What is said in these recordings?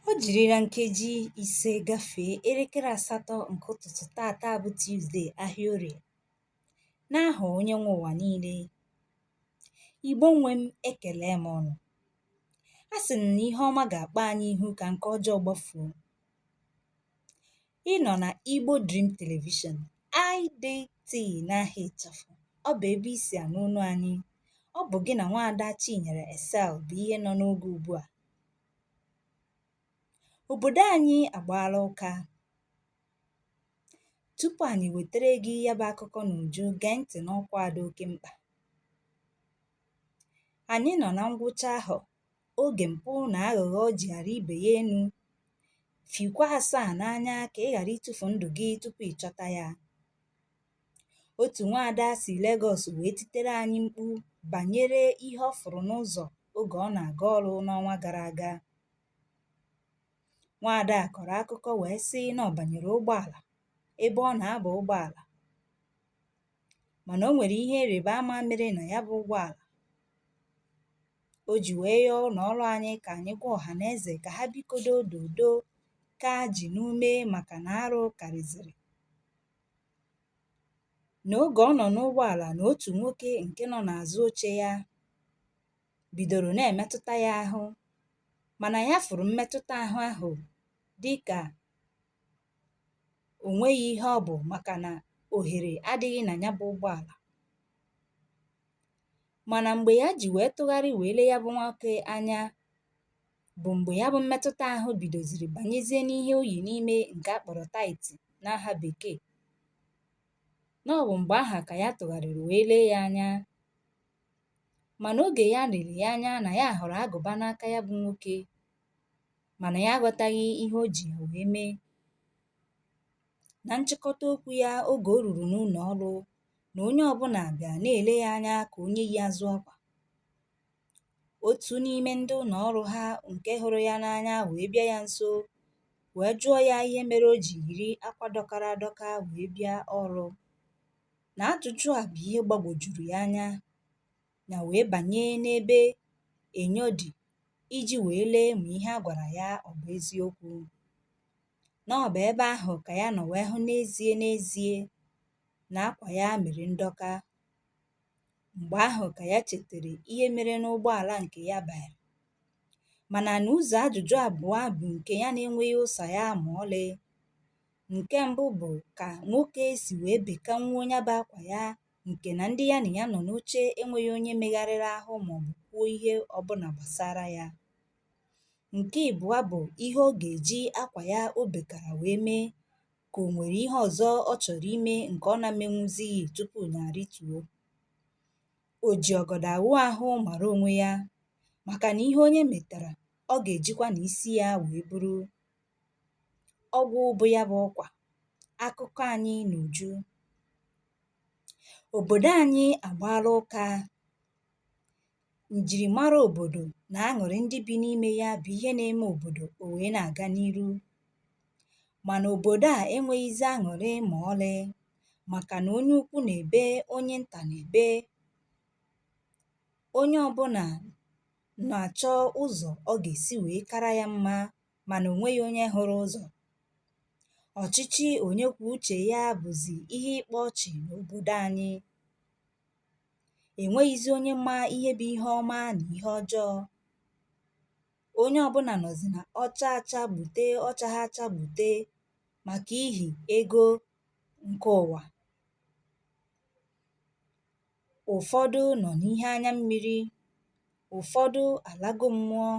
O jirila nkeji ise gafee elekere asatọ nke ụtụtụ tata bụ Tuzdee ahịa Orie. N'aha Onye nwe ụwa niile, Igbo nwe m ekelee m ụnụ. A sị m na ihe ọma ga-akpa anyị ihu ka nke ọjọọ gbafuo. Ị nọ na Igbo Dream Television, IDT n'aha ịchafụ. Ọ bụ ebe i si anụ olu anyị. Ọ bụ gị na nwaada Chinyere Excel bụ ihe nọ n'oge ugbu a. Obodo anyị agbaala ụka. Tupu anyị wetere gị ya bụ akụkọ n'uju, gee ntị n'ọkwa a dị oke mkpa. Anyị nọ na ngwụcha ahọ, oge mpụ na aghụghọ jigha arị ibe ya enu. Fikwaa asaa n'anya ka ị ghara itufu ndụ gị tupu ị chọta ya. Otu nwaada si Legọs wee titere anyị mkpu banyere ihe ọ fụrụ n'ụzọ oge ọ na-aga ọrụ n'ọnwa gara aga. Nwaada a kọrọ akụkọ wee sị na ọ banyere ụgbọala ebe ọ na-aba ụgbọala mana o nwere ihe ịrịba ama mere na ya bụ ụgbọala o ji wee yọọ ụlọ ọrụ anyị ka anyị gwa ọha na eze ka ha bikodo dodo kaa ji n'ume maka na arụ karịziri nà ogè ọ nọ̀ n'ụgbọàlà nà otù nwokē ǹke nọ n'àzụ ochē ya bìdòrò na-èmetụta ya ahụ mànà ya fụ̀rụ̀ mmetụta àhụ ahụ̀ dịkà ò nweghị ihe ọ bụ̀ màkànà òhèrè adị̄ghị nà ya bụ̄ ụgbọàlà mànà m̀gbè ya jì wèe tụgharị wèe lee ya bụ̄ nwokē anya bụ mgbe ya bụ mmetụta ahụ bidoziri banyezie n'ihe o yi n'ime nke a kpọrọ tight n'aha bekee na ọ bụ mgbe aha ka ya tụgharịrị wee lee ya anya mana oge ya lere ya anya na ya hụrụ agụba n'aka ya bụ nwoke mana ya aghọtaghị ihe o ji ya wee mee na nchịkọta okwu ya oge o ruru n'ụlọ ọrụ na onye ọbụla bịa na-ele ya anya ka onye yi azụ akwa otu n'ime ndị ụlọ ọrụ ha nke hụrụ ya n'anya wee bịa ya nso wee jụọ ya ihe mere o ji yiri akwa dọkara adọka wee bịa ọrụ. Na ajụjụ a bụ ihe gbagwojuru ya anya ya wee banye n'ebe enyo dị iji wee lee ma ihe a gwara ya ọ bụ eziokwu. Na ọ bụ ebe ahụ ka ya nọ wee hụ n'ezie n'ezie na akwa ya mere ndọka. Mgbe ahụ ka ya chetara ihe mere n'ụgbọala nke ya banyere mana na ụzọ ajụjụ abụọ bụ nke ya na-enweghị ụsa ya ma ọlị. Nke mbụ bụ ka nwoke si wee bekanwuo ya bụ akwa ya nke na ndị ya na ya nọ n'oche enweghị onye megharịrị ahụ maọbụ kwuo ihe ọbụla gbasara ya. Nke ịbụọ bụ ihe ọ ga-eji akwa ya o bekara wee mee ka o nwere ihe ọzọ ọ chọrọ ime nke ọ na-emenwuzighị tupu ya arịtuo. O ji ọgọdọ awụ ahụ mara onwe ya maka na ihe onye metara, ọ ga-ejikwa na isi ya wee buru. Ọgwụ bụ ya bụ ọkwa. Akụkọ anyị n'uju. Obodo anyị agbaala ụka. Njirimara obodo na aṅụrị ndị bi n'ime ya bụ ihe na-eme obodo o wee na-aga n'iru. Mana obodo a enweghịzi aṅụrị ma ọlị maka na onye ukwu na-ebe, onye nta na-ebe. Onye ọbụla na-achọ ụzọ ọ ga-esi wee kara ya mma mana o nweghị onye hụrụ ụzọ. Ọchịchị onye kwuo uche ya bụzi ihe ịkpa ọchị n'obodo anyị. E nweghịzi onye ma ihe bụ ihe ọma na ihe ọjọọ. Onye ọbụla nọzi na ọ chaa acha gbute, ọ chaghị acha gbute maka ihi ego nke ụwa. Ụfọdụ nọ n'ihe anya mmiri. Ụfọdụ alago mmụọ.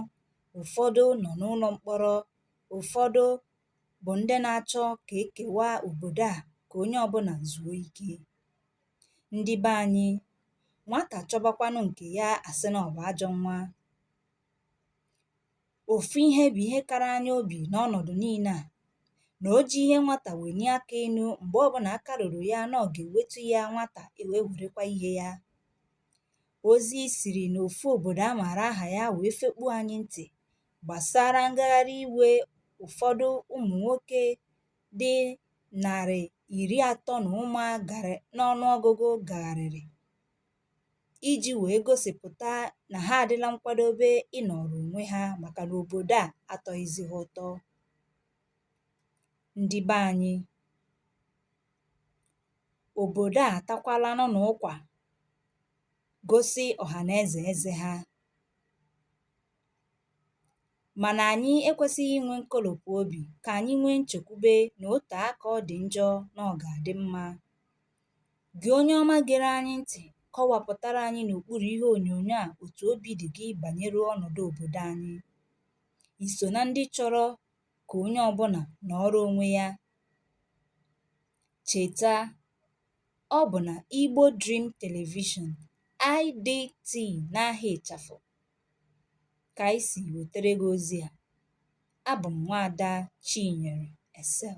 Ụfọdụ nọ n'ụlọ mkpọrọ. Ụfọdụ bụ ndị na-achọ ka e kewaa obodo a ka onye ọbụla zuo ike. Ndị be anyị, nwata chọbakwanụ nke ya a sị na ọ bụ ajọ nwa. Ofu ihe bụ ihe kara anyị obi n'ọnọdụ niile a na o ji ihe nwata welie aka enu mgbe ọbụla aka ruru ya na ọ ga-ewetu ya nwata ewee werekwa ihe ya. Ozi siri n'ofu obodo a maara aha ya wee fekpuo anyị ntị gbasara ngagharị iwe ụfọdụ ụmụ nwoke dị narị iri atọ na ụma n'ọnụ ọgụgụ gagharịrị iji wee gosipụta na ha adịla nkwadobe ịnọrọ onwe ha maka na obodo a atọghịzi ha ụtọ ndị be anyị obodo a atakwalanụ na ụkwa gosi ọhanaeze eze ha Mana anyị ekwesịghị inwe nkolopụ obi, ka anyị nwee nchekwube na o tee aka ọ dị njọ na ọ ga-adị mma. Gị onye ọma gere anyị ntị, kọwapụtara anyị n'okpuru ihe onyonyo a otu obi dị gị banyere ọnọdụ obodo anyị. I so na ndị chọrọ ka onye ọbụla nọọrọ onwe ya? Cheta, ọ bụ na Igbo Dream Television, IDT n'aha ịchafụ, kà ànyị sì wètere gị ozi à abụ̀ m nwaada chinyere excel